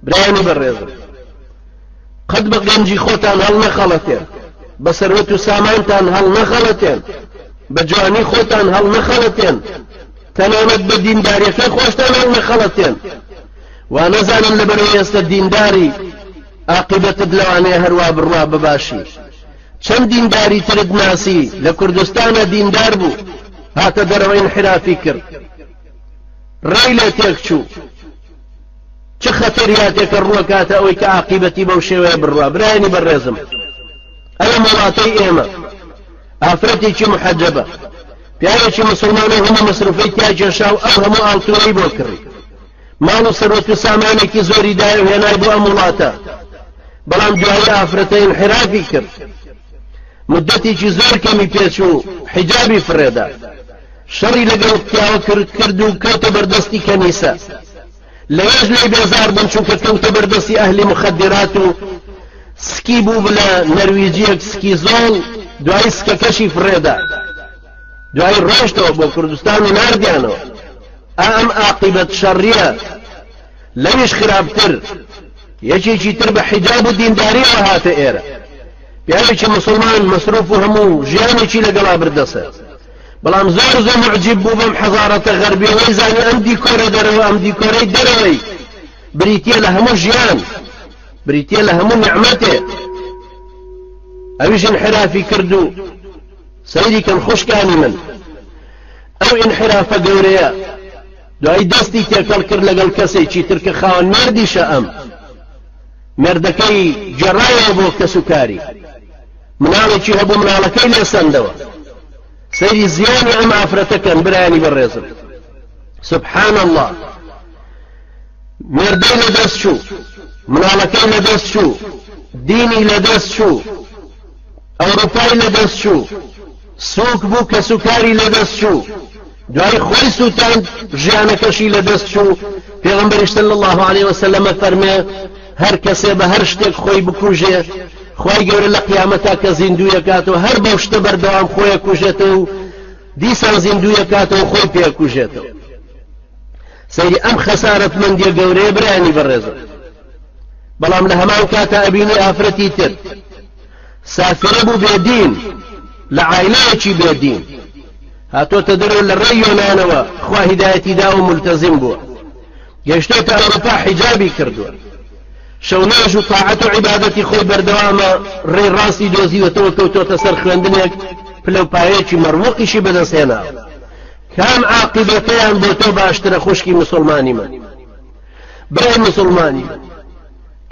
برایانی بەڕێزم قەت بە گەنجی خۆتان هەڵنەخەڵەتێن بە سەروەت و سامانتان هەڵنەخەڵەتێن بە جوانی خۆتان هەڵنەخەڵەتێن تەنانەت بە دینداریەکە خۆشتان هەڵنەخەڵەتێن وا نەزانن لە بەرەوە ئێستا دینداری ئاقیبەتت لەوانەیە هەروە بڕوا بباشی چەند دینداری ترت ناسی لە کوردستانە دیندار بوو هاتە دەرەوەین حرافی کرد ڕێی لێ تێکچوو چ خەتەریاتێکە ڕوەکاتە ئەوەی کە عقیبەتی بەو شێوەیە بڕوا برایانی بەڕێزم ئەوە مەڵاتەی ئێمە ئافرەتێکی محەجەبە پیاوێکی مسلمانە هەمە مەسروفەی تیا جێشا و ئەو هەموو ئاڵتوەی بۆ کڕی ماڵ و سەرەت و سامانێکی زۆری دای و هێنای بۆ ئەم وڵاتە بەڵام دوایی ئافرەتەین حرافی کرد مدەتێکی زۆر کەمی پێچوو حیجابی فرێدا شەڕی لەگەڵ پیاوە کرد کرد و کەوتە بەردەستی کەنیسە لەوێش لێی بێزار بوون چونکە کەوتە بەردەستی ئەهلی مخدرات و سکی بوو بلە نەرویجیەک سکی زۆڵ دوای سکەکەشی فرێدا دوای ڕۆشتەوە بۆ کوردستان و نردیانەوە ئەم ئاقیبەت شەڕیە لەویش خراپتر یەکێکی تر بە حیجاب و دینداریەوە هاتە ئێرە پیاوێکی مسلمان مەسروف و هەموو ژیانێکی لەگەڵا بردەسەر بەڵام زۆر زۆر موعجیب بوو بەم حەزارەتە غەربیەوەی زانی ئەم دیکۆرە دەرەوە ئەم دیکۆرەی دەرەوەی بریتیە لە هەموو ژیان بریتیە لە هەموو نعمەتێ ئەویش انحرافی کرد و سەیری کەم خوشکانی من ئەو انحرافە گەورەیە دوای دەستی تێکەڵ کرد لەگەڵ کەسێکی ترکە خاوەن مردیشە ئەم مردەکەی جێڕایەوە بۆ کەسوکاری مناڵێکی هەبوو مناڵەکەی لێ سەندەوە سەیری زیانی ئەم ئافرەتە کەن برایانی بەڕێزم سبحان الله مردەی لە دەست چوو مناڵەکەی لە دەست چوو دینی لە دەست چوو ئەوروپای لە دەست چوو سوک بوو کەسوکاری لەدەست چوو دوای خۆی سووتاند ژیانەکەشی لەدەست چوو پێغمبەریش صلی الله عليه وسلم فەرمێ هەر کەسێ بە هەر شتێک خۆی بکوژێ خی گەورە لە قیامەتا کە زیندویەکات و هەر بەو شتە بەردەوام خۆیە کوژێتەوە و دیسان زیندویەکاتەوە خۆی پێکوژێتەوە سەیری ئەم خەسارەت مندیە گەورەیە برانی بەڕێزە بەڵام لە هەمان کاتە ئەبینی ئافرەتی تر سافرە بوو بێ دین لە عایلەیەکی بێ دین هاتۆتە دەرەوە لە ڕێی یۆنانەوە خوا هیدایەتی داوە ملتەزیم بووە گەشتۆتە ئەوروپا حیجابی کردووە شەوناژ و تاعەت و عیبادەتی خۆی بەردەوامە ڕێ ڕاستی دۆزیوەتەوە کەوتۆتە سەر خوێندنێک پلە و پایەکی مەڕوەقیشی بەدەستێنا کام عاقبەتەیان بۆ تۆ باشترە خوشکی مسلمانی من برای مسلمانی من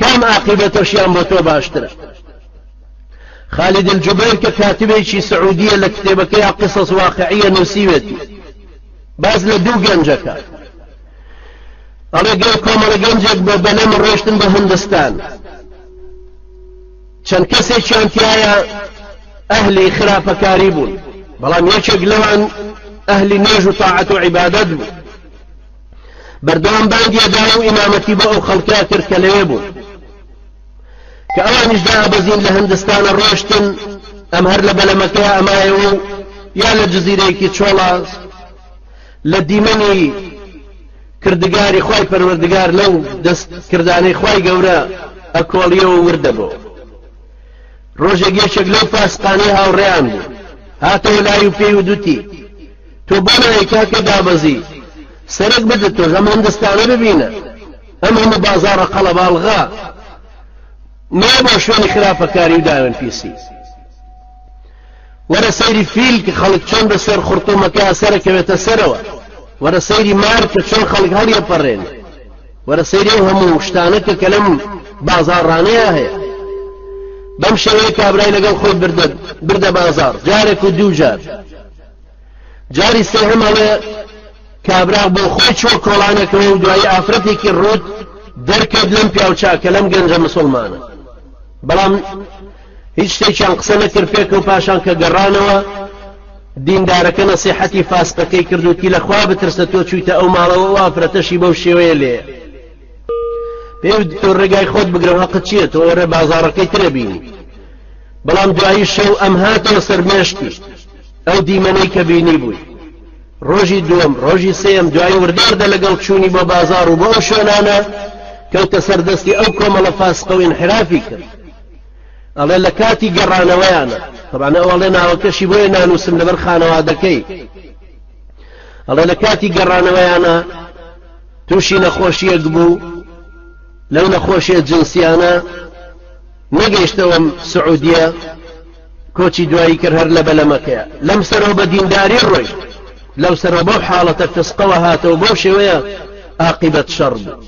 کام ئاقیبەتەشیان بۆ تۆ باشترە خالد الجبیر کە کاتبێکی سعودیە لە کتێبەکەی قصص واقعیە نووسیوێتی باز لە دوو گەنجەکە ئەڵێ گەر کۆمەڵە گەنجێک بە بەلەم ڕۆشتن بە هندستان چەند کەسێکیان تایە ئەهلی خراپەکاری بوون بەڵام یەکێک لەوان ئەهلی نێژ و تاعەت و عیبادەت بوو بەردەوام بانگی ئەدا و ئیمامەتی بۆ ئەو خەڵکە کرد کە لەوێ بوون کە ئەوانیش دابەزین لە هندستانە ڕۆشتن ئەم هەر لە بەلەمەکەی ئەمایەوە و یا لە جززیرەیەکی چۆڵە لە دیمەنی کردگاری خی پەروەردگار لەو دەست کردانەی خی گەورە ئەکۆڵیەوە وردە بۆ ڕۆژێک یەکێک لەو پاسقانەی هاوڕێیان بوو هاتەوە لای و پێی و دوتی تۆ بۆ نایەی کاکە دابەزی سەرک بدت تۆش ئەم هندستانە ببینە ئەم هەموو بازارە قەڵەباڵغا مە بۆ شوێنی خراپەکاری و داوێن پیسی وەرە سەیری فیل کە خەڵک چۆن بە سەر خورتومەکە سەرەکەوێتە سەرەوە وەرە سەیری مار کە چۆن خەڵک هەڵیە پەڕێن وەرە سەیری و هەموو شتانە کە کەلم بازاڕانەیە هەیە بەم شێوەیە کابرای لەگەڵ خۆی بردە بردە بازار جارێک و دوو جار جاری سێهەم ئەڵێ کابرا بۆ خۆی چوە کۆڵانەکەەوە و دوایی ئافرەتێکی ڕوت دەرکەوت لەم پیاوچاکە لەم گەنجە مسلمانە بەڵام هیچ شتێکیان قسە نەکرد پێکە و پاشان کە گەڕانەوە دیندارەکە نەسیحەتی فاسقەکەی کردوتی لەخوا بترسە تۆ چویتە ئەو ماڵەوە و ئافرەتەشی بەو شێوەیە لێ پێ تۆ ڕێگای خۆت بگرم هەقت چییە تۆ ئێرە بازارەکەی ترە بینی بەڵام دوایی شەو ئەم هاتەوە سەرمێشتی ئەو دیمەنەی کە بینی بووی ڕۆژی دووەم ڕۆژی سێم دوای وردەوردە لەگەڵ چوونی بۆ بازار و بۆ ئەو شوێنانە کەوتە سەردەستی ئەو کۆمەڵە فاسقە و انحرافی کرد ئەڵێ لە کاتی گەڕانەوەیانە تەبانە ئەوڵێ ناوەکەشی بۆیە نانووسم لەبەر خانەوادەکەی ئەڵێ لە کاتی گەڕانەوەیانە تووشی نەخۆشیەک بوو لەو نەخۆشیە جنسیانە نەگەیشتەوەم سعودیە کۆچی دوایی کرد هەر لە بەلەمەکەیە لەم سەرەوە بە دینداری ڕۆیشت لەو سەرەوە بەو حاڵەتە فسقەوە هاتەوە بەو شێوەیە ئاقیبەت شەڕ بوو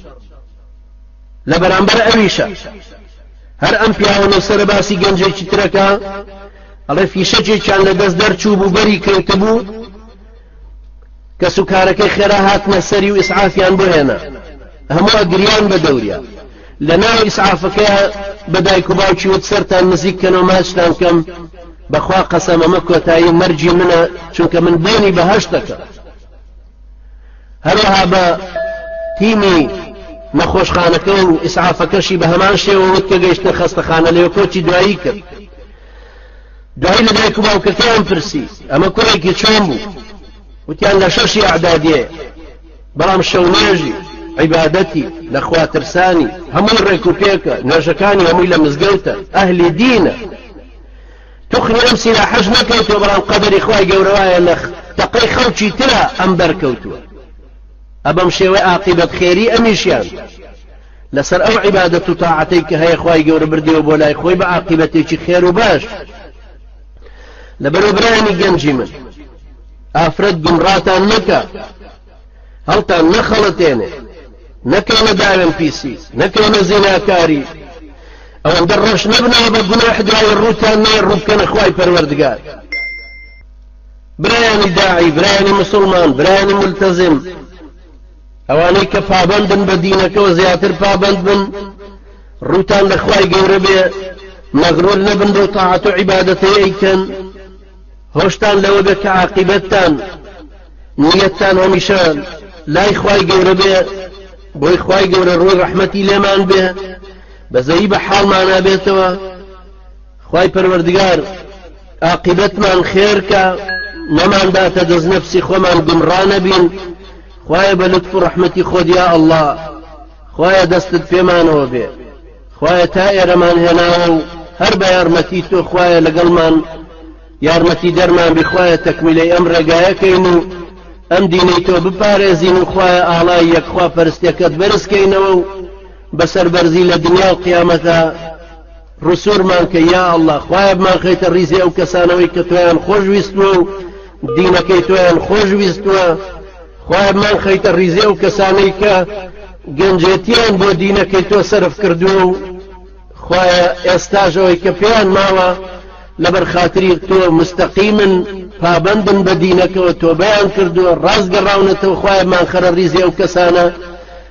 لە بەرامبەر ئەویشە هەر ئەم پیاوەنە سەرە باسی گەنجێکی ترەکە ئەڵێ فیشەکێکیان لە دەست دەرچوو بوو بەری کەوتبوو کەس و کارەکەی خێرا هاتنە سەری و ئیسعافیان بۆ هێنا هەموو گریان بە دەوریا لە ناو ئیسعافەکە بە دایک و باوکی وت سەران نزیک کەنەوە ماچتان کەم بەخوا قەسەم ئەمە کۆتایی مەرجی منە چونکە من بۆنی بەهشت دەکەم هەروەها بە تیمی نەخۆشخانەکە و ئیسعافەکەشی بە هەمان شێوە وت کە گەیشتە خەستەخانە لێو کۆچی دوایی کرد دوایی لە دایک و باوکەکەیان پرسی ئەمە کوڕێکی چۆن بوو وتیان لە شەشی ئەعدادیێ بەڵام شەونێژی عیبادەتی لە خواترسانی هەمووی ڕێک و پێکە نوێژەکانی هەمووی لە مزگەوتە ئەهلی دینە تخنی ئەم سیلا حەش نەکەیتەوە بەڵام قەدەری خخوای گەورەوایە لە تەقەی خەڵکی ترە ئەم بەرکەوتووە ئەبەم شێوەی ئاقیبەت خێری ئەمیشیان لەسەر ئەو عیبادەت و تاعەتەی کە هەیە خوای گەورە بردیەوە بۆ لای خۆی بە عاقیبەتێکی خێر و باش لەبەرەوە برایانی گەنجی من ئافرەت گمڕاتان نەکە هەڵتان نەخەڵەتێنێ نەکەونە داوێن پیسی نەکەونە زیناکاری ئەوەندە ڕەش نەبنەوە بە گوناح دوای ڕووتان نێ ڕووبکەنە خوای پەروەردگار برایانی داعی برایانی مسلمان برایانی ملتەزم ئەوانەی کە پابەندن بە دینەکەوە زیاتر پابەند بن ڕووتان لە خوای گەورە بێ مەغرور نەبن بەو تاعەت و عیبادەتەی ئەیکەن هۆشتان لەوە بێ کە عاقیبەتتان نیەتتان هەمیشە لای خوای گەورە بێ بۆی خوای گەورە ڕووی ڕەحمەتی لێمان بێ بەزەی بە حاڵمانە بێتەوە خوای پەروەردگار ئاقیبەتمان خێرکە نەمان داتە دەست نەفسی خۆمان گومڕانەبین خوایە بە لطف و ڕەحمەتی خۆدیا ئەله خوایە دەستت پێمانەوە بێ خوایە تا ئێرەمان هێناوە و هەر بە یارمەتی تۆ خوایە لەگەڵمان یارمەتی دەرمان بخوایە تەکمیلەی ئەم ڕێگایەکەین و ئەم دینەی تۆ بپارێزین و خوایە ئاڵای یەکخوا پەرستەکەت بەرزکەینەوە و بەسەر بەرزی لە دنیا و قیامەتە ڕسورمان کە یا اللە خوایە بمانخەیتە ڕیزی ئەو کەسانەوەی کە تۆیان خۆش ویستوە و دینەکەی تۆیان خۆش ویستوە خوایە بمان خەیتە ڕیزی ئەو کەسانەی کە گەنجێتیان بۆ دینەکەی تۆ سرف کردووە و خوایە ئێستاش ئەوەی کە پێیان ماوە لەبەر خاتری تۆ مستەقیمن پابندن بە دینەکەەوە تۆ بەیان کردووە ڕاستگەڕاونەتەوە خوایە مانخەرە ریزی ئەو کەسانە